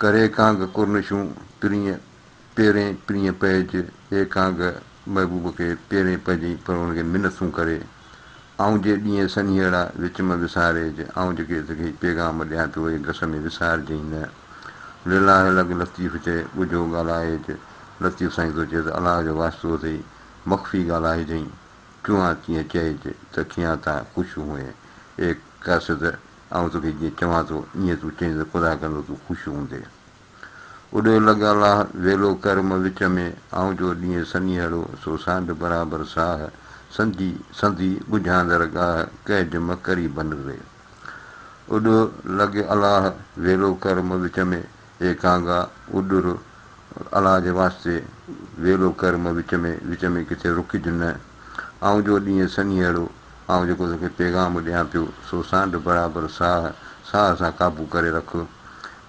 ڪري ڪانگ ڪرنشون پرينء پيرين پرينء پئج اي ڪانگ محبوب کي پيرين پئجين پر ان کي منت سون ڪري آئون جي ڏينهن سنيهڙا وچ مان وساريج آئون جيڪي تو کي پيغام ڏيان پيو اي گس ۾ وسارجئين نه لله لڳ لطيف چئي ڳجهو ڳالهائيج لطيف سائين ٿو چئي ته الله جو واسطو اٿئي مخفي ڳالهائجئين چونهان تيئن چئج ته کيان تان خوش هونء اي قاصد آئون توکي جيئن چوان ٿو، ايئن تون چئين ته خدا ڪندو تون خوش هوندين. اڏيو لڳ الله، ويلو ڪر م وچ ۾، آئون جو ڏينهن سنيهڙو، سو سانڍ برابر ساهه، سنجي سنڌي ڳجهاندر ڳاهه، ڪهج م ڪري بنري. اڏيو لڳ الله، ويلو ڪر م وچ ۾، اي ڪانگا، اڏر، الله جي واسطي ويلو ڪر م وچ ۾ وچ ۾ ڪٿي رڪج نه. آئون جو ڏينهن سنيهڙو، آئون جيڪو توکي پيغام ڏيان پيو، سو سانڍ برابر ساهه ساهه سان قابو ڪري رک.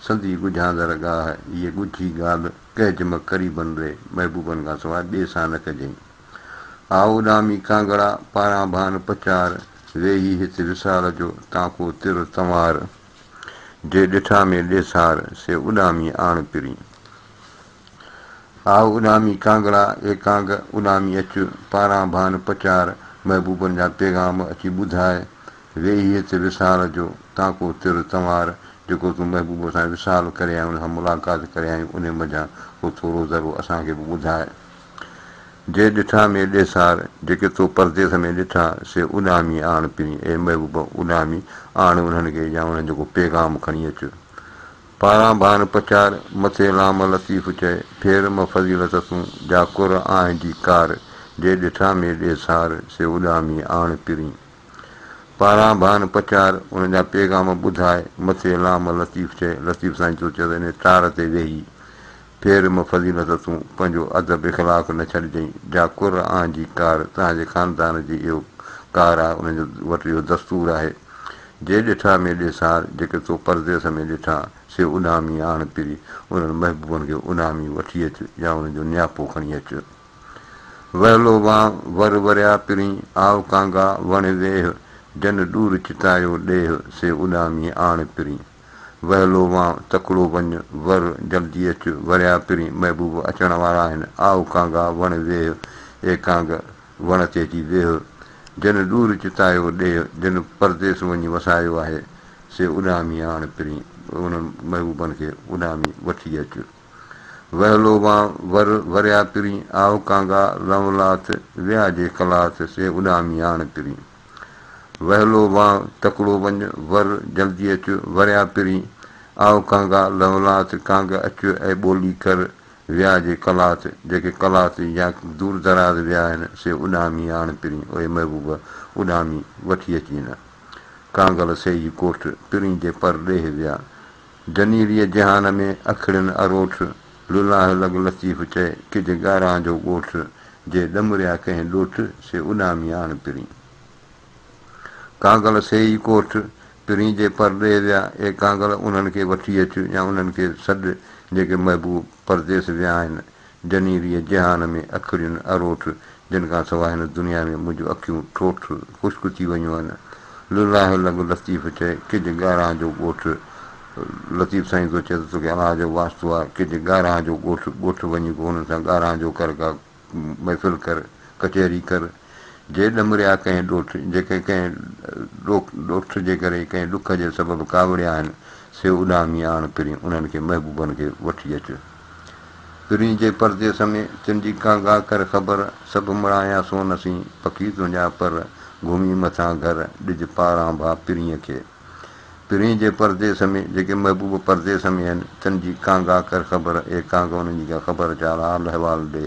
سندي ڳجهاندڙ ڳاهه، اهي ڳجهي ڳالهه ڪهج م قريبن ري، محبوبن کان سواء ٻئي سان نه ڪجين. آء اڏامي ڪانگڙا، پاران ڀان پچار، ويهي هت وصال جو، تان ڪو تر تنوار. جي ڏٺا مي ڏيسار، سي اڏامي آڻ پرين. آء اڏامي ڪانگڙا، اي ڪانگ، اڏامي اچ، پاران ڀان پچار، محبوبن جا پيغام اچي ٻڌاء، ويهي هت وصال جو، تانڪو تر تنوار، جيڪو تون محبوب سان وصال ڪريائين، ان سان ملاقات ڪريائين، انهي منجهان ڪو ٿورو ذرو اسان کي به ٻڌاء. جي ڏٺا مي ڏيسار، جيڪي تو پرديس ۾ ڏٺا، سي اڏامي آڻ پرين، اي محبوب! اڏامي آڻ انهن کي يا انهن جو ڪو پيغام کڻي اچ. پاران ڀان پچار، مٿي لام لطيف چئي، ڦير م فضيلت تون، جا ڪر آنهه جي ڪار، جي ڏٺا مي ڏيسار، سي اڏامي آڻ پرين. پاران ڀان پچار، انهن جا پيغام ٻڌاء، مٿي لام لطيف چئي، لطيف سائين تو چئه ته انهي تار تي ويهي، پير مون فضيلت تون پنهنجو ادب اخلاق نه ڇڏجئين جا قر آن جي ڪار توهان جي خاندان جي اهو ڪار آهي انهن جو وٽ اهو دستور آهي جي ڏٺا مي ڏي سار جيڪي تو پرديس ۾ ڏٺا سي اڏامي آڻ پري انهن محبوبن کي اڏامي وٺي اچ يا انهن جو نياپو کڻي اچ وهلو وان ور وريا پرين آء ڪانگا وڻ ويهه جن ڏور چتايو ڏيهه سي اڏامي آڻ پرين. ويلو وان تڪڙو وڃ، ور، جلدي اچ، وريا پرين محبوب اچڻ وارا آهن، آء ڪانگا وڻ ويهه، اي ڪانگ! وڻ تي اچي ويهه، جنھن ڏور چتايو ڏيھ، جنھن پرديس وڃي وسايو آهي، سي اڏامي آڻ پرين، انھن محبوبن کي اڏامي وٺي اچ. ويلو وان ور، وريا پرين، آء ڪانگا، لنولاٿ، ويا جي ڪلاٿ، سي اڏامي آڻ پرين. وهلو وان تڪڙو وڃ، ور جلدي اچ، وريان پرين، آء ڪانگا، لهولات، ڪانگ اچ اي ٻولي ڪر، ويا جي قلات، جيڪي قلات يا دور دراز ويا آهن، سي اڏامي آڻ پرين، اي محبوب! اڏامي وٺي اچين. ڪانگل سيء ڪوٺ، پرين جي پر ڏيهه ويا. جنيريء جهان ۾ اکڙين اروٺ، لولاهه لڳ لطيف چئي، ڪج ڳاران جو ڳوٺ، جي ڏمريا ڪنهن ڏوٺ، سي اڏامي آڻ پرين. ڪانگل سيئي ڪوٺ، پرين جي پرڏيهه ويا، اي ڪانگل انهن کي وٺي اچ يا انهن کي سڏ، جيڪي محبوب پرديس ويا آهن، جنيريء جهان ۾ اکڙين اروٺ، جن کان سواء هن دنيا ۾ منهنجون اکيون ٺوٺ، خشڪ ٿي ويون آهن. لله لڳ لطيف چئي، ڪج ڳارهان جو ڳوٺ، لطيف سائين ٿو چئي ته توکي الله جو واسطو آهي، ڪج ڳارهان جو ڳوٺ، ڳوٺ وڃي ڪو هنن سان ڳارهان جو ڪر، ڪا محفل ڪر، ڪچهري ڪر، جي ڏمريا ڪنهن ڏوٺ، جيڪي ڪنهن ڏوٺ جي ڪري ڪنهن ڏک جي سبب ڪاوڙيا آهن، سي اڏامي آڻ پرين انهن کي محبوبن کي وٺي اچ. پرين جي پرديس ۾، تن جي ڪا گاهه ڪر خبر، سڀ مڙهايان سون اسين، پکي تنهنجا پر، گهمي مٿان گهر، ڏج پاران ڀاء پرينء کي. پرين جي پرديس ۾، جيڪي محبوب پرديس ۾ هن، تن جي ڪا گاهه ڪر خبر، اي ڪانگ انهن جي ڪا خبر چار حال احوال ڏي،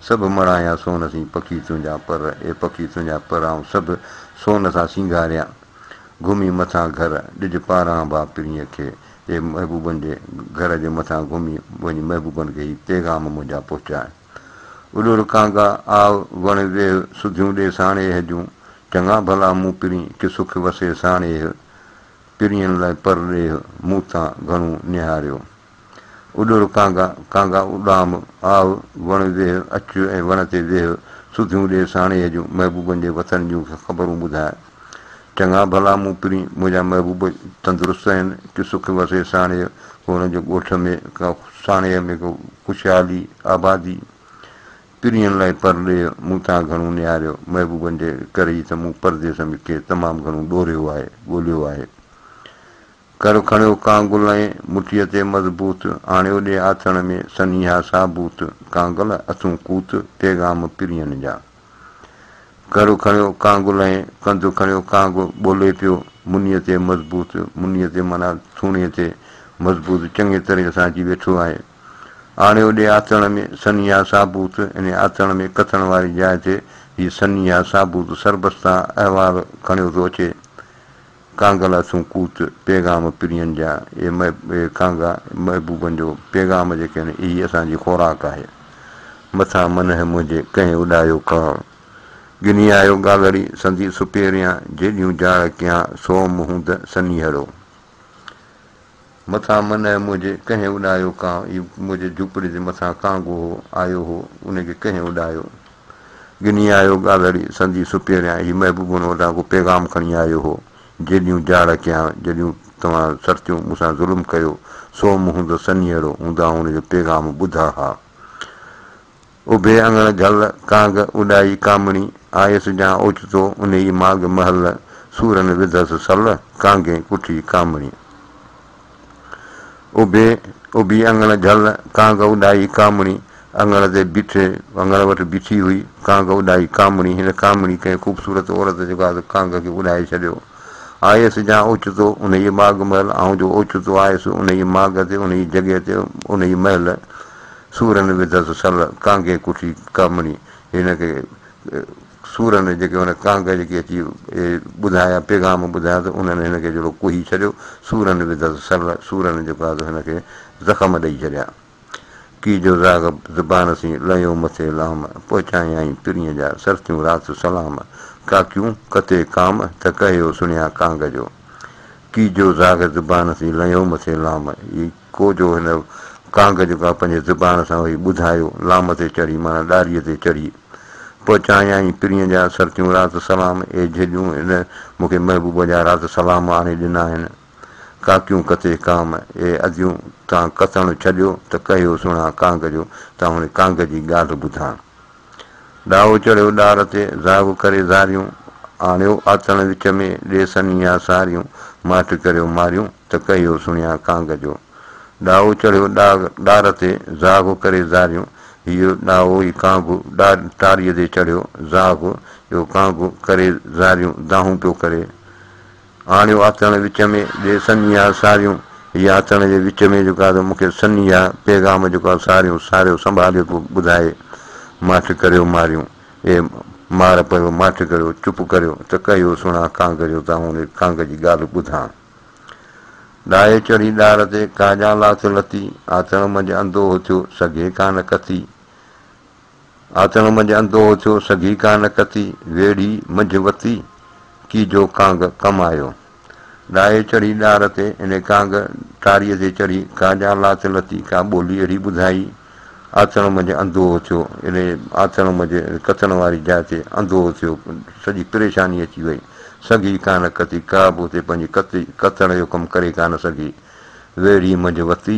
سڀ مڙهايان سون اسين، پکي تنهنجا پر، اي پکي تنهنجا پر آئون سڀ، سون سان سينگاريان، گهمي مٿان گهر، ڏج پاران ڀاء پرينء کي. تي محبوبن جي گهر جي مٿان گهمي وڃي محبوبن کي هي پيغام منهنجا پهچائين. اڏو رکانگا، آء وڻ ويهه سڌيون ڏي ساڻيهه جون، چڱا ڀلا مون پرين ڪي سک وسي ساڻيهه، پرين لئه پر ڏيهه مون تان گهڻو نهاريو. اڏو رکانگا، کانگا اڏام، آء وڻ ويهه اچ ۽ وڻ تي ويهه سڌيون ڏي ساڻيهه جون، محبوبن جي وطن جون کي خبرون ٻڌاء. چڱا ڀلا مون پرين، منهنجا محبوب تندرست آهن، ڪي سک وسي ساڻيهه ڪو هن جي ڳوٺ ۾ ڪا ساڻيهه ۾ ڪو خوشحالي، آبادي. پرين لاء پرڏيهه مون تان گهڻو نهاريو، محبوبن جي ڪري ئي ته مون پرديس ۾ ڪي تمام گهڻو ڏوريو آهي، ڳوليو آهي. ڪر کڻيو ڪانگل ۽ مٺيء تي مضبوط، آڻيو ڏي آٿڻ ۾ سن اها ثابوت، ڪانگل اٿون ڪوت، پيغام پرين جا. ڪر کڻيو ڪانگل ۽ ڪنڌ کڻيو ڪانگ، ٻولي پيو منيء تي مضبوط، منيء تي معنيٰ ٿوڻي تي مضبوط چڱي طرح سان اچي ويٺو آهي. آڻيو ڏي آٿڻ ۾ سن اها ثابوت، انهيء آٿڻ ۾ ڪٿڻ واري جاء تي هي سن اها ثابوت سربستان احوال کڻيو ٿو اچي. ڪانگا لاسون ڪوت پيغام پرين جا، اي ڪانگا محبوبن جو پيغام جيڪي آهن، اي ئي اسان جي خوراڪ آهي. مٿان منهه منهنجي ڪنهن اڏايو ڪاڻ، ڳني آيو ڳاڳهڙي سندي سپهريان، جيڏيون جاڙ ڪيان سوم هوند سنيهڙو. مٿان من ۽ منهنجي ڪنهن اڏايو ڪانء ئي منهنجي جهوپڙي جي مٿان ڪانء گوهو آيو هو ان کي ڪنهن اڏايو ڳني آيو ڳالهڙي سندي سپيريان هي محبوبون اوڏان ڪو پيغام کڻي آيو هو جيڏيون جاڙ ڪيان جڏيون توهان سرتيون مون سان ظلم ڪيو سوم هوندس سنيهڙو هوندا هن جو پيغام ٻڌا ها اڀي اڱڻ گهل، ڪانگ اڏائي ڪامڻي، آيس جان اوچتو انهي ماڳ محل، سورن وڌس سل، ڪانگي ڪٺي ڪامڻي. اڀي، اڀي اڱڻ گهل، ڪانگ اڏائي ڪامڻي، اڱڻ تي بيٺي، اڱڻ وٽ بيٺي هئي، ڪانگ اڏائي ڪامڻي، هن ڪامڻي ڪنهن خوبصورت عورت جي گاد ڪانگ کي اڏائي ڇڏيو. آيس جان اوچتو انهي ماڳ محل، آئون جو اوچتو آيس انهي ماڳ تي، انهي جڳهه تي، انهي محل، سورن وڌس سل ڪانگي ڪٺي ڪامڻي هن کي سورن جيڪي هن ڪانگ جيڪي اچي ٻڌايا پيغام ٻڌايا ته انهن هن کي جهڙو ڪوهي ڇڏيو سورن وڌس سل سورن جيڪو آهي سو هن کي زخم ڏئي ڇڏيا ڪي جو زاغ زبان سين لهيو مٿي لام پوء چاهيائين پرينء جا سرتيون رات سلام ڪاڪيون ڪتي ڪام ته ڪهيو سڻيا ڪانگ جو ڪي جو زاغ زبان سين لهيو مٿي لام اي ڪو جو هن ڪانگ جو ڪا پنهنجي زبان سان وهي ٻڌايو، لام تي چڙهي معنيٰ ڏاريء تي چڙهي پوء چانيائين پرينء جا سرتيون رات سلام، اي جهڄون هن مون کي محبوب جا رات سلام آڻي ڏنا آهن، ڪاڪيون ڪتي ڪام، اي اديون تان ڪتڻ ڇڏيو ته ڪهيو سڻان ڪانگ جو، تان هن ڪانگ جي ڳالهه ٻڌان. ڏاهو چڙهيو ڏار تي، زاهو ڪري زاريون، آڻيو آتڻ وچ ۾، ڏي سنيها ساريون، ماٺ ڪريو ماريون، ته ڪهيو سڻيان ڪانگ جو. ڏاهو چڙهيو ڏار تي، زاهو ڪري زاريون، هيء ڏاهو ئي ڪانگ، ٽاريء تي چڙهيو زاهو، اهو ڪانگ، ڪري زاريون، دانهون پيو ڪري. آڻيو آتڻ وچ ۾ جي سنيها ساريون هي آتڻ جي وچ ۾ جيڪو آ سو مون کي سنيها پيغام جيڪو آ ساريون ساريو سنڀاليو پيو ٻڌائي ماٺ ڪريو ماريون اي مار پيو ماٺ ڪريو چپ ڪريو ته ڪهيو سڻان ڪانگريو ته آئون ري ڪانگ جي ڳالهه ٻڌان ڏاهي چڙهي ڏار تي ڪاڄان لات لتي آتڻ منجهه انڌو هٿيو سگهي ڪا نه ڪٿي آتڻ منجھ اندوھ ٿيو سگھي ڪانه ڪتي، ويڙھي منجھ وتي ڪي جو ڪانگ ڪم آيو. ڏاھي چڙھي ڏار تي ان ڪانگ ٽاريء تي چڙھي ڪا ڄان لات لتي ڪا ٻولي اھڙي ٻڌائي، آتڻ منجھ اندوھ ٿيو ان آتڻ منجھ ڪتڻ واري جاء تي اندوھ ٿيو سڄي پريشاني اچي وئي سگھي ڪانه ڪتي ڪا به اتي پنھنجي ڪتڻ جو ڪم ڪري ڪانه سگھي، ويڙھي منجھ وتي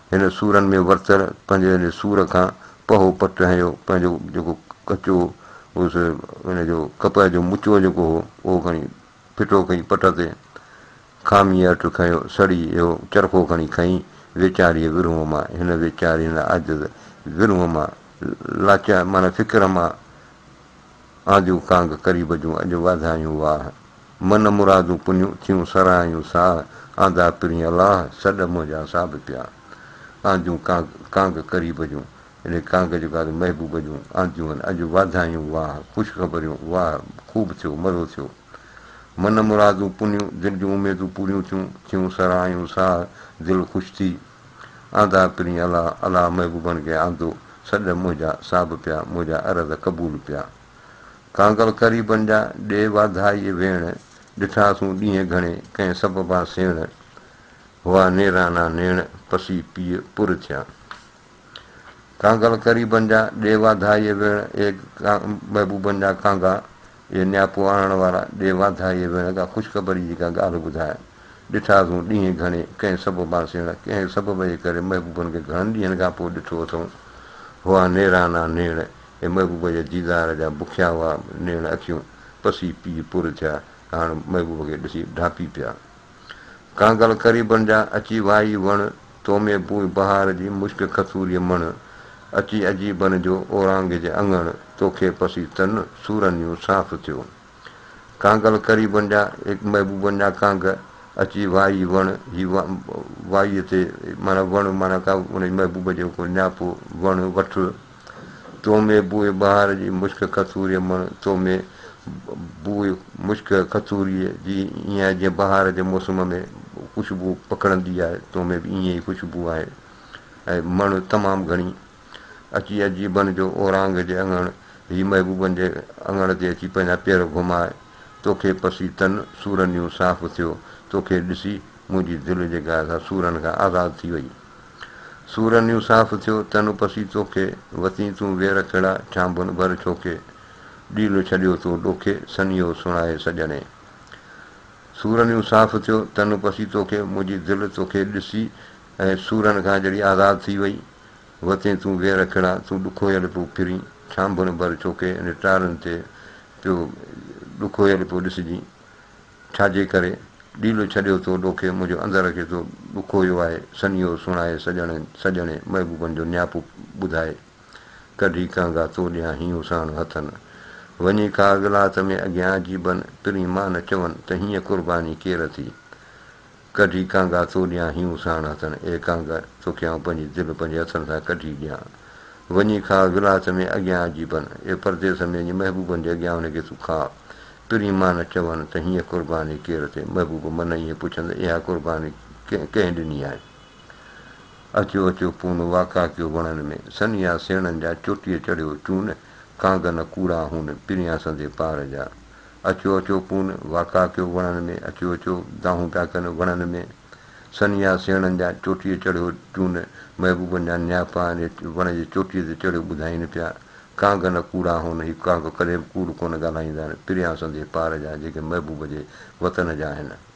هن سورن ۾ ورتل پنهنجي ان سور کان پهو پٽ هنيو، پنهنجو جيڪو ڪچو هوس ان جو ڪپهه جو مچو جيڪو هو اهو کڻي ڦٽو ڪئي پٽ تي، کاميء اٽ کنيو سڙي اهو چرخو کڻي کنئي ويچاريء ورهونء مان، هن ويچاري هن عاجز ورهونء مان لاچار معنيٰ فڪر مان آجو ڪانگ قريب جون اڄ واڌايون واهه. من مرادون پڃون ٿيون سرهايون ساهه. آندا پرين الاهه سڏ منهنجا ساڀ پيا. آجون ڪانگ ڪانگ قريب جون اڙي ڪانگ جيڪو آهي محبوب جون آنديون اڄ واڌايون واهه خوش خبريون واهه خوب ٿيو مزو ٿيو من مرادون پڃون دل جون اميدون پوريون ٿيون ٿيون سرهايون ساهه دل خوش ٿي آندا ڪرين الا الا محبوبن کي آندو سڏ منهنجا صاحب پيا منهنجا عرض قبول پيا ڪانگل قريبن جا ڏي واڌائي ويڻ ڏٺا سون ڏينهن گهڻي ڪنهن سببان سيڻ هئا نيرانا نيڻ پسي پيء پر ٿيا ڪانگل قريبن جا ڏي واڌائي ويڻ اي محبوبن جا ڪانگا اي نياپو آڻڻ وارا ڏي واڌائي ويڻ ڪا خوشخبري جي ڪا ڳالهه ٻڌاء ڏٺاسون ڏينهن گهڻي، ڪنهن سبب مان سيڻ، ڪنهن سبب جي ڪري محبوبن کي گهڻن ڏينهن کان پوء ڏٺو اٿئون. هئا نيرانا نيڻ، اي محبوب جي ديدار جا بکيا هئا نيڻ اکيون، پسي پيء پور ٿيا، هاڻ محبوب کي ڏسي ڍانپي پيا. ڪانگل قريبن جا، اچي وائي وڻ، تو ۾ بوء بهار جي، مشڪ کٿوريء مڻ، اچي عجيبن جو، اورانگهه جي اڱڻ، توکي پسي تن، سورنيون صاف ٿيو. ڪانگل قريبن جا، هڪ محبوبن جا ڪانگ اچي وائي وڻ، هي وائيء تي معنيٰ وڻ معنيٰ ڪا ان جي محبوب جو ڪو نياپو وڻ وٺ، تو ۾ بوء بهار جي مشڪ کٿوريء مڻ، تو ۾ بوء مشڪ کٿوريء جي ائين آهي جيئن بهار جي موسم ۾ خوشبو پکڙندي آهي، تو ۾ به ائين ئي خوشبو آهي ۽ مڻ تمام گهڻي. اچي اجي بڻ جو اورانگ جي اڱڻ هي محبوبن جي اڱڻ تي اچي پنهنجا پير گهمائي توکي پسي تن سورن يون صاف ٿيو توکي ڏسي منهنجي دل جي گاڌا سورن کان آزاد ٿي وئي سورن يون صاف ٿيو تن پسي توکي وتين تون وير ڪھڙا ڇانڀن ڀر ڇوکي ڏيل ڇڏيو تو ڏوکي سنيهو سڻائي سڄڻي سورن يون صاف ٿيو تن پسي توکي منهنجي دل توکي ڏسي اي سورن کان جڙي آزاد ٿي وئي، وتين تون ويهه رکڙا، تون ڏکويل پيو ڦرين، ڇانڀڻ ڀر ڇوڪي انهن ٽارن تي پيو ڏکويل پيو ڏسجين، ڇاجي ڪري؟ ڏيلو ڇڏيو تو ڏوکي منهنجو اندر کي تو ڏکويو آهي، سنيهو سڻائي سڄڻ سڄڻي محبوبن جو نياپو ٻڌائي، ڪڍي ڪهنگا تو ڏيان هيون ساڻ هٿن، وڃي کاڳ لات ۾ اڳيان عجيبن پرين مان نه چون ته هيئن قرباني ڪير ٿي، ڪڍي ڪانگا تو ڏيان هيون ساڻ هٿن اي ڪانگ توکي آئون پنهنجي دل پنهنجي هٿن سان ڪڍي ڏيان وڃي کاء ولايت ۾ اڳيان عجيبن اي پرديس ۾ وڃي محبوبن جي اڳيان ان کي تون کاء پرين مان نه چون ته هينئن قرباني ڪير ٿئي محبوب من ائين پڇند اها قرباني ڪنهن ڏني آهي اچو اچو پون واڪا ڪيو وڻن ۾ سنيها سيڻن جا چوٽيء چڙهيو چون ڪانگ نه ڪوڙا هون پريان سندي پار جا اچو اچو پون واڪا ڪيو وڻن ۾، اچو اچو دانهون پيا ڪن وڻن ۾، سنيها سيڻن جا چوٽيء چڙهيو چون، محبوبن جا نياپا آهن هي وڻ جي چوٽيء تي چڙهيو ٻڌائين پيا، ڪانگ نه ڪوڙا هون، هي ڪانگ ڪڏهن به ڪوڙ ڪونه ڳالهائيندا آهن، پريان سندي پار جا جيڪي محبوب جي وطن جا آهن.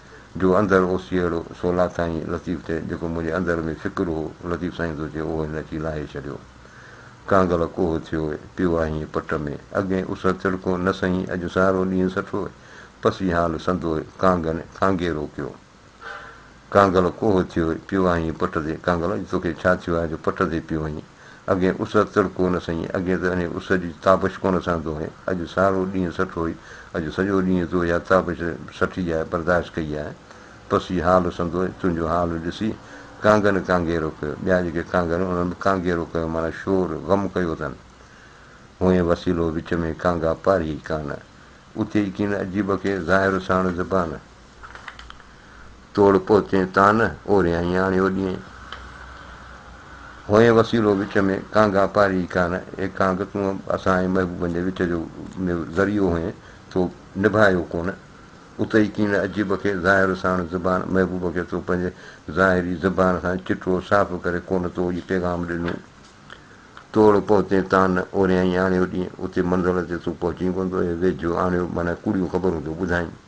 جو اندر اوسيئڙو سو لاٿائين لطيف تي جيڪو منهنجي اندر ۾ فڪر هو لطيف سائين ٿو چئي اهو هن اچي لاهي ڇڏيو ڪانگل ڪوهه ٿيو هي پيو آهين پٽ ۾ اڳي اس تڙڪو نه سهين اڄ سارو ڏينهن سٺو هي پسي حال سندو هي ڪانگن ڪانگي روڪيو ڪانگل ڪوهه ٿيو هي پيو آهين پٽ تي ڪانگل اڄ توکي ڇا ٿيو آهي جو پٽ تي پيو آهين. اڳي اس تڙڪو نه سئين، اڳي ته انهيء اس جي تابش ڪونه سهندو هئين، اڄ سارو ڏينهن سٺ هئي، اڄ سڄو ڏينهن تو اها تابش، سٺي آهي، برداشت ڪئي آهي. پس هي حال سندو، تنهنجو حال ڏسي ڪانگن ڪانگيرو ڪيو. ٻيا جيڪي ڪانگر هئا، انهن به ڪانگيرو ڪيو، معنيٰ شور، غم ڪيو اٿن. هئين وسيلو وچ ۾ ڪانگا پاريهئي ڪانه، اتي ئي ڪين عجيب کي ظاهر ساڻ زبان. توڙ پهتين تان نه، اوريائين آڻيو ڏينهين. هئين وسيلو وچ ۾، ڪانگا پاري ئي ڪانه. اي ڪانگ! تون اسان ۽ محبوبن جي وچ جو ذريعو هئين، تو نڀايو ڪونه. اتي ڪين عجيب کي ظاهر ساڻ زبان، محبوب کي تو پنهنجي ظاهري زبان سان چٽو صاف ڪري ڪونه تو هي پيغام ڏنو. توڙ پهتين تان نه، اوريائين آڻيو ڏينهين. اتي منزل تي تون پهچين ڪونه تو، اي ويجهو آڻيو معنيٰ ڪوڙيون خبرون تو ٻڌائين.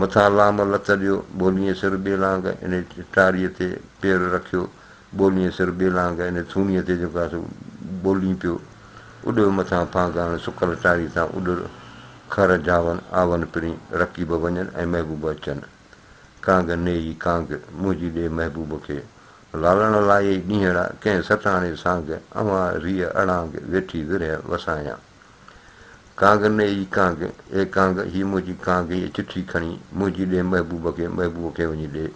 مٿان لام لت ڏيو، ٻولينء سر ٻي لانگ ان ٽاريء تي پير رکيو، ٻولينء سر ٻي لانگ ان ٿوڻيء تي جيڪو آهي سو ٻولين پيو، اڏيو مٿان ڦانگان سڪل ٽاري تان اڏر، خر جاون آون پرين، رقيب وڃن ۽ محبوب اچن. ڪانگ نيئي ڪانگ، منهنجي ڏي محبوب کي، لالڻ لايئي ڏينهڙا، ڪنهن سٽاڻي سانگ، اوهان ريء اڙانگ، ويٺي ورهيه وسايان. ڪانگ ني اي ڪانگ، اي ڪانگ، هي منهنجي ڪانگ اي چٺي کڻي، منهنجي ڏي محبوب کي، محبوب کي وڃي ڏي.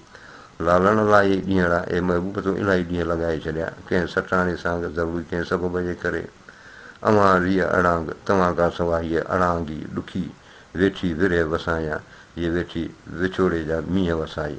لالڻ الاهي ڏينهڙا، اي محبوب تون الاهي ڏينهن لنگهائي ڇڏيا، ڪنهن سٽاڻي سانگ، ضروري ڪنهن سبب جي ڪري. اوهان ريء اڙانگ، توهان کان سواء هيء اڙانگي، ڏکي، ويٺي ورهيه وسايان، هيء ويٺي وڇوڙي جا مينهن وسائي.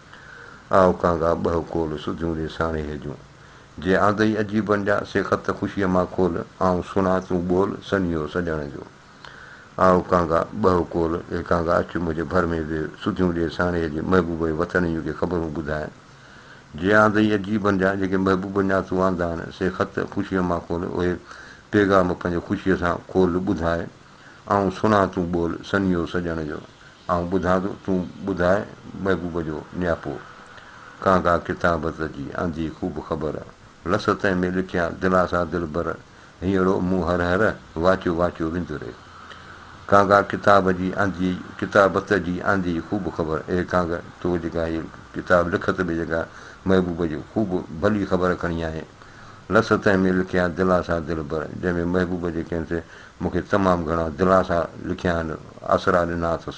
آء ڪانگا ٻه ڪول سڌيون ڏي ساڻي هيجون. جي آندئي عجيب بڻجان، سي خط خوشيء مان کول، آئون سڻان تون ٻول، سنيهو سڄڻ جو. آء ڪانگا ٻه ڪول، اي ڪانگا اچ منهنجي ڀر ۾ ويهه، سڌيون ڏي ساڻي هيجي، محبوبه وطن جون ڪي خبرون ٻڌانء. جي آندئي عجيب بڻجان، جيڪي محبوبه ڄان تون آندا آهن، سي خط خوشيء مان کول، اهي پيغام پنهنجي خوشيء سان کول ٻڌانء، آئون سڻان تون ٻول، سنيهو سڄڻ جو. آئون ٻڌان ٿو، تون ٻڌاء محبوب جو نياپو. ڪانگا ڪتابت جي آندي خوب خبر، لس تنهن ۾ لکيان دلاسا دلبر، هينئڙو مون هر هر، واچيو واچيو وندري. ڪانگا ڪتاب جي آندي ڪتابت جي آندي خوب خبر، اي ڪانگ! تو جيڪا هيء ڪتاب لکت ۾ جيڪا محبوب جي خوب ڀلي خبر کڻي آئين، لس تنهن ۾ لکيان دلاسا دلبر، جنهن ۾ محبوب جي ڪنهن سي مون کي تمام گهڻا دلاسا لکيا آهن، آسرا ڏنا اٿس.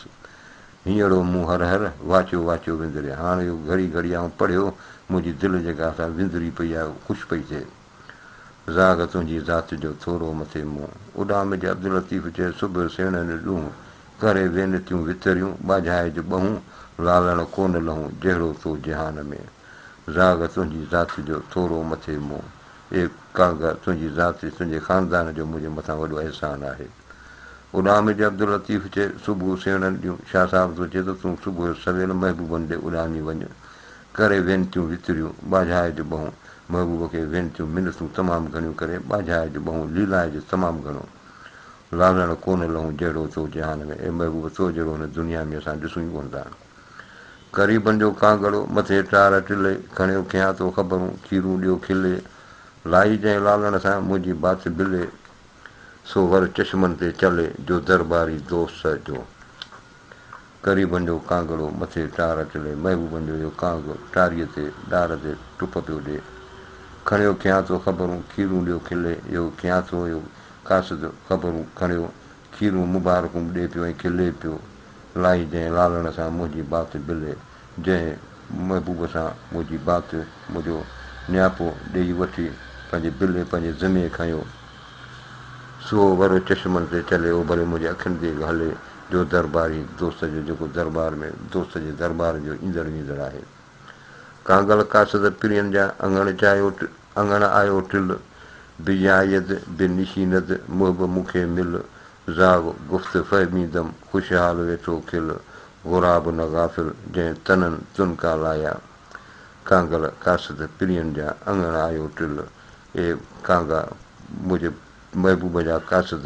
هينئڙو مون هر هر واچو واچو وندري هاڻ اهو گهڙي گهڙي آئون پڙهيو، منهنجي دل جيڪا سا وندري پئي آهي اهو خوش پئي ٿئي. زاغ تنهنجي ذات جو ٿورو مٿي مون. اڏام جي عبداللطيف چئي سڀ سيڻن ڏونهن، ڪري وينتيون وتريون، ٻاجهائي جو ٻهون، لالڻ ڪو نه لهون، جهڙو تو جهان ۾. زاغ تنهنجي ذات جو ٿورو مٿي مون. اي ڪانگا! تنهنجي ذات ۽ تنهنجي خاندان جو منهنجي مٿان وڏو احسان آهي. اڏامي جي عبداللطيف چي، صبح سيڻن ڏيون شاهه صاحب ٿو چي ته تون صبح جو سويل محبوبن ڏي اڏامي وڃ. ڪري وينتيون وتريون ٻاجهاء جون ٻهون محبوب کي وينتيون منٿون تمام گهڻيون ڪري ٻاجهاء جون ٻهون ليلائي جو تمام گهڻو لالڻ ڪونه لهون جهڙو تو جهان ۾، اي محبوب! تو جهڙو هن دنيا ۾ اسان ڏسون ئي ڪونه ٿا. غريبن جو ڪانگڙو، مٿي ٽار ٽلي، کڻيو کيان تو خبرون، کيرون ڏيو کلي، لائي جنهن لالڻ سان، منهنجي بات بلي، سو ور چشمن تي چلي، جو درباري دوست جو. غريبن جو ڪانگڙو، مٿي ٽار ٽلي، محبوبن جو اهو ڪانگ، ٽاريء تي، ڏار تي، ٽپ پيو ڏي. کڻيو کيان تو خبرون، کيرون ڏيو کلي، اهو کيان ٿو اهو قاصد، خبرون کڻيو، کيرون مبارڪون به ڏئي پيو ۽ کلي پيو. الائي جنهن لالڻ سان منهنجي بات بلي، جنهن محبوب سان منهنجي بات منهنجو نياپو ڏيئي وٺي پنهنجي بلي پنهنجي ذمي کنيو، سو ور چشمن تي چلي اوڀري منهنجي اکين تي به هلي، جو درباري دوست جو جيڪو دربار ۾ دوست جي دربار جو ايندڙ ويندڙ آهي. ڪانگل قاصد پرين جا اڱڻ چاهيو اڱڻ آيو ٽل، به يايد به نشيند محب مون کي مل، زاغ گفت فهمي دم خوشحال ويٺو کل، غراب نه غافل جنهن تنن تن ڪا لايا. ڪانگل قاصد پرين جا اڱڻ آيو ٽل، اي ڪانگا! منهنجي محبوب جا قاصد!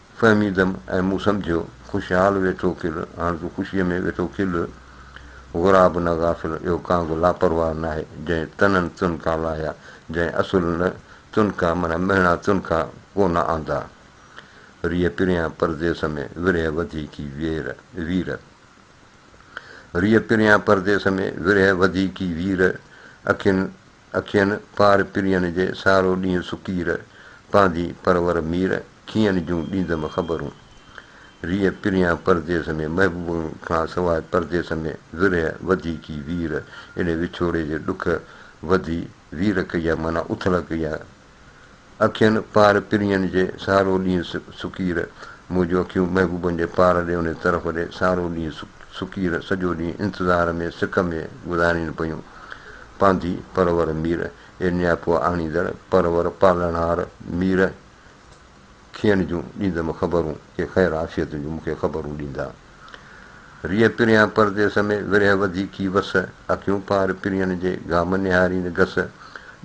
فهميدم ۽ مون سمجهيو، خوشحال ويٺو کل، هاڻ تون خوشيء ۾ ويٺو کل. غراب نه غافل، اهو ڪانگ لاپرواهه ناهي، جنهن تنن تنڪا لاهيا، جنهن اصل نه تنڪا معنيٰ مهڻا تنڪا ڪو نه آندا. ريء پريان پرديس ۾، ورهيه وڌي ڪي وير، وير. ريء پريان پرديس ۾، ورهيه وڌي ڪي وير، اکين اکين پار پرين جي سارو ڏينهن سڪير، پانڌي پرور مير، کيئن جون ڏيندم خبرون. ريء پريان پرديس ۾، محبوبن کان سواء پرديس ۾، ورهيه وڌي ڪي وير، اڙي وڇوڙي جي ڏک وڌي وير ڪئي آ، معنيٰ اٿل ڪئي آ، اکين پار پرينء جي سارو ڏينهن سڪير منهنجون اکيون محبوبن جي پار ڏي انهي طرف ڏي سارو ڏينهن سڪير سڄو ڏينهن انتظار ۾ سڪ ۾ گذارين پيون پانڌي پرور مير اي نياپو آڻيندڙ پرور پالڻهار مير کين جون ڏيندم خبرون، ڪي خير عافيت جون مون کي خبرون ڏيندا. ريء پريان پرديس ۾، ورهه وڌي ڪي وس، اکيون پار پرين جي، گام نهارين گس،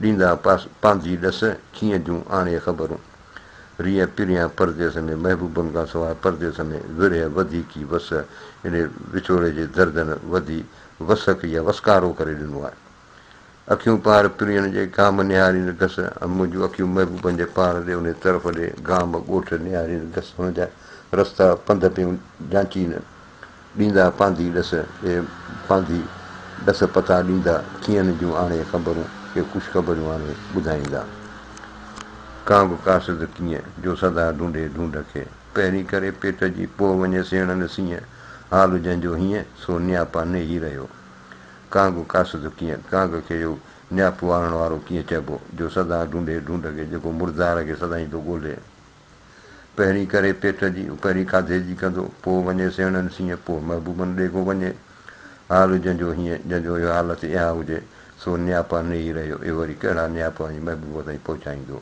ڏيندا پانڌي ڏس، کين جون آڻي خبرون. ريء پريان پرديس ۾، محبوبن کان سواء پرديس ۾، ورهه وڌي ڪي وس، يعني وڇوڙي جي دردن وڌي وسڪ يا وسڪارو ڪري ڏنو آهي. اکيون پار پرينء جي گام نهاريندي گس ۽ منهنجون اکيون محبوبن جي پار ڏي انهي طرف ڏي گام ڳوٺ نهاريندي گس هن جا رستا پنڌ پيون جانچين ڏيندا پانڌي ڏس اي پانڌي ڏس پتا ڏيندا ٿينهن جون آڻي خبرون ڪي خوش خبريون آڻي ٻڌائيندا ڪا به ڪاسد ڪيئن جو سدا ڍونڍي ڍونڍ کي پهرين ڪري پيٽ جي پوء وڃي سيڻن سينهن حال جنهن جو هيئن سو نياپا نيهي رهيو ڪانگ قاصد ڪيئن؟ ڪانگ کي اهو نياپو آڻڻ وارو ڪيئن چئبو، جو سدا ڍونڍي ڍونڍ کي، جيڪو مردار کي سدائين ٿو ڳولي. پهرين ڪري پيٽ جي، پهرين کاڌي جي ڪندو، پوء وڃي سيڻن سينهن، پوء محبوبن ڏيگهو وڃي. حال جنهن جو هيئن، جنهن جو اهو حالت اها هجي، سو نياپا نيهي رهيو، اهو وري ڪهڙا نياپا ۽ محبوب تائين پهچائيندو.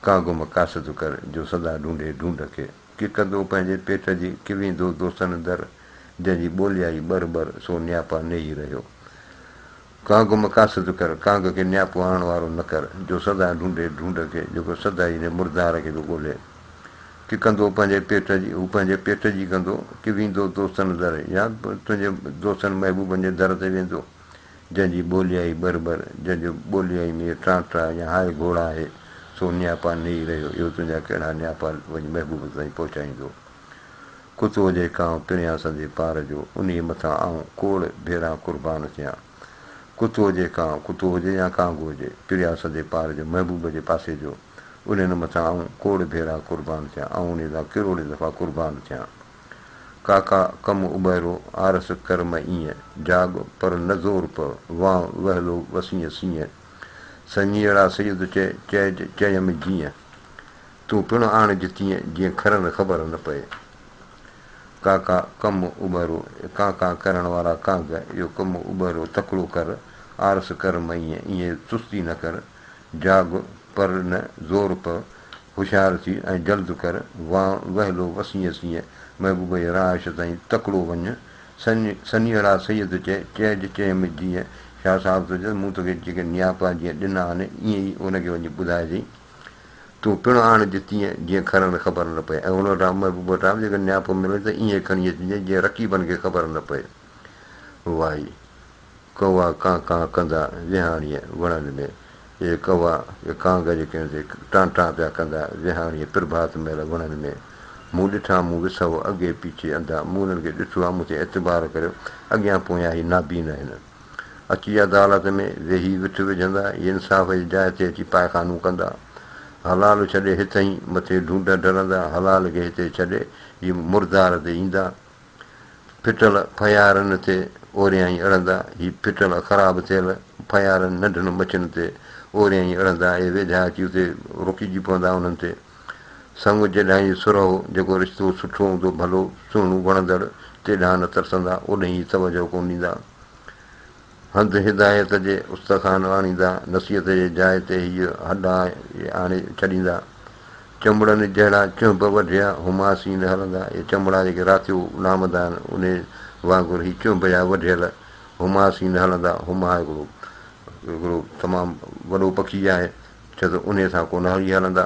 ڪانگم قاصد ڪر، جو سدا ڍونڍي ڍونڍ کي. ڪي ڪندو پنهنجي پيٽ جي، ڪي ويندو دوستن در، جنهن جي ٻولي آئي ٻر ٻر، سو نياپا نيهي رهيو. ڪانگ مقاصد ڪر، ڪانگ کي نياپو آڻڻ وارو نه ڪر، جو سدا ڍونڍي ڍونڍ کي، جيڪو سدا ئي انهيء مردار کي ٿو ڳولهي. ڪي ڪندو پنهنجي پيٽ جي، هو پنهنجي پيٽ جي ڪندو، ڪي ويندو دوستن در، يا تنهنجي دوستن محبوبن جي در تي ويندو. جنهن جي ٻوليائي بر بر، جنهن جو ٻوليائي مير ٽران ٽرا يا هاء گهوڙا آهي، سو نياپا نيئي رهيو، اهو تنهنجا ڪهڙا نياپا وڃي محبوب تائين پهچائيندو. ڪتو هجي ڪانء پريان سندي پار جو، انهيء مٿان آئون ڪوڙ ڀيران قربان ٿيان. ڪتو هجي ڪانء، ڪتو هجي يا ڪانگو هجي، پريان سندي پار جو، محبوب جي پاسي جو، انهن مٿان آئون ڪوڙ ڀيران قربان ٿيان، آئون انهيء لاء ڪروڙين دفعا قربان ٿيان. ڪاڪا ڪم اٻهرو آرس ڪر م ايئن، جاڳ پر نه زور پ وانء وهلو وسينء سينء، سڃيئڙا سيد چئي، چئج چيم جيئن، تون پڻ آڻج تيئن، جيئن کرن خبر نه پئي. ڪاڪا ڪم اٻهرو ڪان ڪان ڪرڻ وارا ڪانگ، اهو ڪم اٻهرو تڪڙو ڪر، آرس ڪر م ايئن، ايئن چستي نه ڪر، جاڳ پر نه زور پء، هوشيار ٿي ۽ جلد ڪر، وان وهلو وسينء سينء، محبوبه جي رهائش تائين تڪڙو وڃ. سن سنيهڙا سيد چئي، چئج چيم جيئن شاهه صاحب ٿو چيس، مون توکي جيڪي نياپا جيئن ڏنا آهن، ائين ئي هن کي وڃي ٻڌائجئين. تون پڻ آڻج تيئن، جيئن کهرن کي خبر نه پئي ۽ هن وٽان، محبوبه وٽان، به جيڪڏهن نياپو ملي ته ائين ئي کڻي اچجئين، جيئن رقيبن کي خبر نه پئي. وائي. ڪوا ڪان ڪان ڪندا ويهاڻيء وڻن ۾، اي ڪوا، اي ڪانگ جيڪين تي ٽان ٽان پيا ڪندا ويهاڻيء پرڀات مهل وڻن ۾، مون ڏٺا، مون وسهو اڳي پيڇي انڌا، مون انهن کي ڏٺو آهي، مون تي اعتبار ڪريو، اڳيان پويان هي نابين آهن. اچي عدالت ۾ ويهي وٺ وجهندا، هي انصاف جي جاء تي اچي پائخانو ڪندا. حلال ڇڏي هتهين مٿي ڍونڍ ڍرندا، حلال کي هتي ڇڏي هي مردار تي ايندا. ڦٽل ڦيارن تي اوريائين اڙندا، هي ڦٽل خراب ٿيل ڦيارن ننڍن مڇين تي اوريائين اڙندا، اهي ويجها اچي اتي رڪجي پوندا انهن تي. سڱ جيڏانهن ئي سرهو، جيڪو رشتو سٺو هوندو، ڀلو، سهڻو، وڻندڙ، تيڏانهن نه ترسندا، اوڏهين ئي توجهه ڪونه ڏيندا. هنڌ هدايت جي استخوان آڻيندا، نصيحت جي جاء تي هيء هڏا ئي آڻي ڇڏيندا. چنبڙن جهڙا چهنب وڍيا هما سين هلندا، اهي چنبڙا جيڪي راتيو نامدا آهن، انهيء وانگر هي چهنب جا وڍيل هما سين هلندا. هما هڪڙو هڪڙو تمام وڏو پکي آهي، ڇو ته انهيء سان ڪونهاري هلندا.